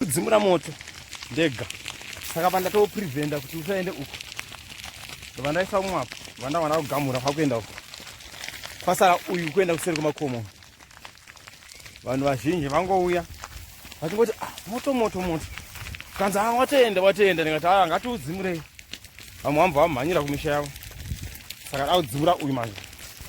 kudzimura moto ndega saka pandatowo preventa kuti usaende uko vandaisa umwe apo vanda vana kugamura kwakuenda uko kwasara uyu kuenda kuseri kwemakomo vanhu vazhinji vangouya vachingoti ah, moto moto moto kanzi a ah, watoenda watoenda ndikati aa ah, ngatiudzimurei vamwe vamva vamhanyira kumisha yavo saka daudzimura uyu manje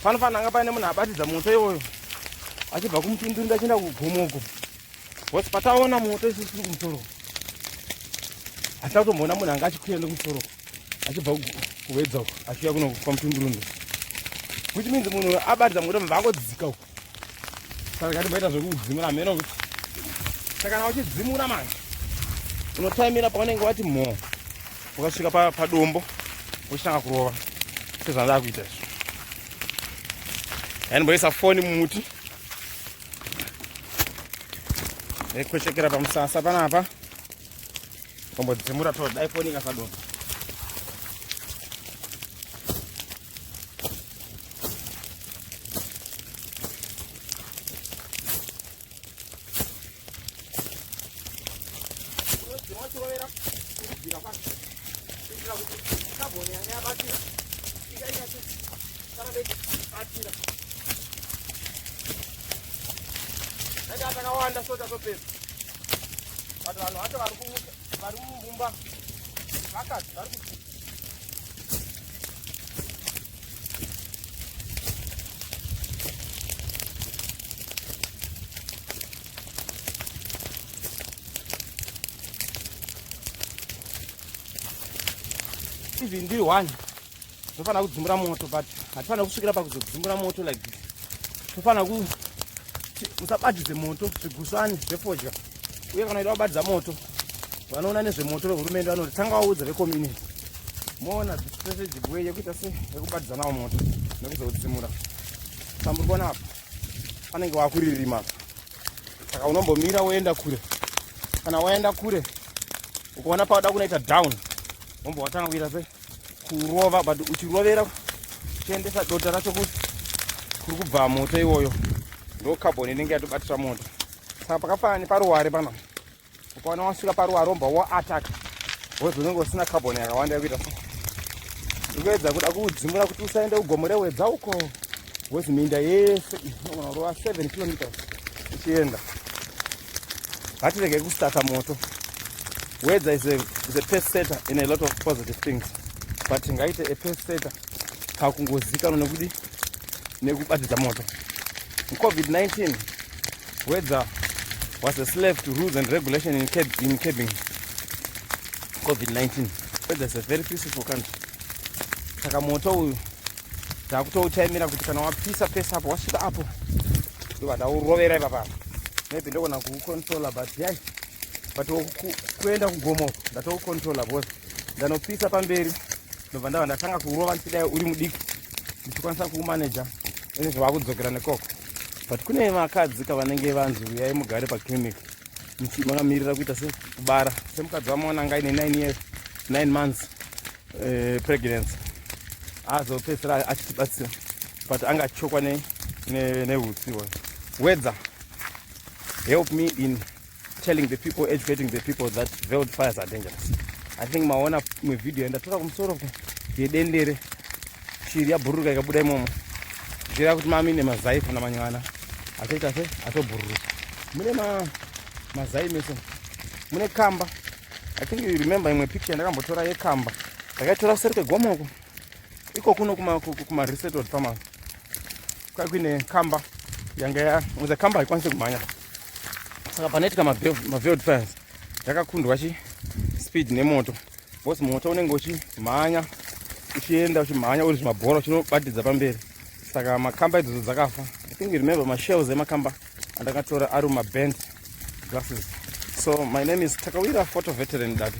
panofanira anga paine munhu abatidza moto iwoyo achibva kumutunduri ndachienda kugomoko Boss pataona moto isu tiri kumusoro. Atatomboona munhu anga achikuya nekumusoro. Achibva kuwedza uko achiuya kuno kwa mutundurundu. Which means munhu abatidza moto mva angodzika uko. Saka katimboita zvekudzimura mheno kuti. Saka kana uchidzimura manje. Unotaimira paunenge wati mho. Ukasvika pa padombo uchitanga kurova. Sezvandava kuita izvo. Yaani mboisa foni mumuti. Nekuchekera pamusasa panapa. Kombo dzimura to dai foni kasadoma. Thank you. Akawanda so tatopedza. But vanhu vacho vari kumuka vari mumumba vakati vari kuti even ndiri one tofanira kudzimbura moto but hatifanira kusvikira pakuzodzimbura moto like this tofanira ku musabatidze moto zvigusvani zvefodya uye kana ida kubatidza moto vanoona nezvemoto vehurumende vanoti tanga vaudza vecommunity moona strategic way yekuita se yekubatidza nawo moto nekuzoudzimura samburikona apa panenge wakuririma apa saka unombomira woenda kure kana waenda kure ukaona pauda kunoita down wombo watanga kuita se kurova but uchirovera uchiendesa dota racho kuti kuri kubva moto iwoyo ndo carbon inenge yatobatira moto saka pakafanana neparuware panapa ukaona wasvika paruwa romba wo attack wozi unenge usina carbon yakawanda yekuita so ndikuedza kuda kuudzimura kuti usaende kugomo rewedza uko wozi minda yese inogona kurova 7 kilometers uchienda ngatirege kustata moto weather is a, is a pest setter in a lot of positive things but ngaite a pest setter kakungozikanwa nekuti nekubatidza moto covid-19 weather was a slave to rules and regulation in, cab in cabin covid-19 weather is a very peaceful country saka moto uyu takutouchaimira kuti kana wapisa pese apo wasvika apo ndobva taurovera ipapa maybe ndogona kuucontrola but yai but kuenda kugomo ndatoucontrola bcause ndanopisa pamberi ndobva ndava ndatanga kurova ndichidai uri mudiki ndichikwanisa kuumaneja ene zvavakudzokera nekoko but kune vakadzi kavanenge vanzi uyai mugare paclinic makamirira kuita se kubara semukadzi wamwana anga ine 9 years 9 months eh, pregnancy azopedzisira achitibatsira but anga achitshokwa neutsi ne, ne wedza help me in telling the people educating the people that veld fires are dangerous i think maona imwe video yandatora kumusoro yedendere shiri yabhururuka ikabuda imomo zvireva kuti mami nemazai kana manywana achaita se atobhururuka mune ma mazai mese mune kamba i think you remember imwe picture yandakambotora yekamba ndakaitora kuseri kwegomo uko iko kuno kumaresetod farmers kwakuine kamba yanga ya the kamba haikwanise kumhanya saka panoitika maveld fires yakakundwa chi speed nemoto bcause moto unenge uchimhanya uchienda uchimhanya uri zvimabhora uchinobatidza pamberi saka makamba idzodzo dzakafa i think remember mashells emakamba andakatora ari mumaband glasses so my name is takawira photo veteran dati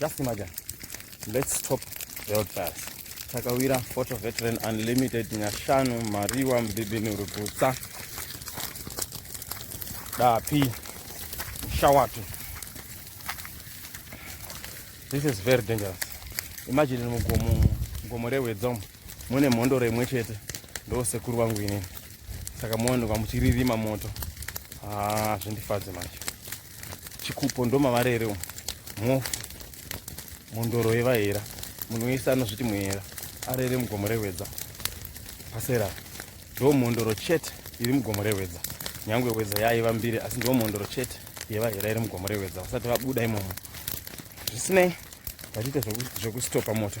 Just imagine. Let's stop the road fires. Takawira Photo Veteran Unlimited Nyashanu Mariwa Mbibini Rugutsa Dapi Shawatu. This is very dangerous. Imagine mugomo mugomo rehwedzomo mune mhondoro imwe chete ndo sekuru vangu inini saka muone kwamuchiririma moto ah, zvindifadze manje chikupo ndomavari ere mhofu mhondoro yevahera munhu wese anozviti muhera ari iri mugomo rehwedza pasera ndo mhondoro chete iri mugomo rehwedza nyange hwedza yaiva mbiri asi ndo mhondoro chete yevahera iri mugomo rehwedza vasati vabuda imomo zvisinei vatiita zvekustopa moto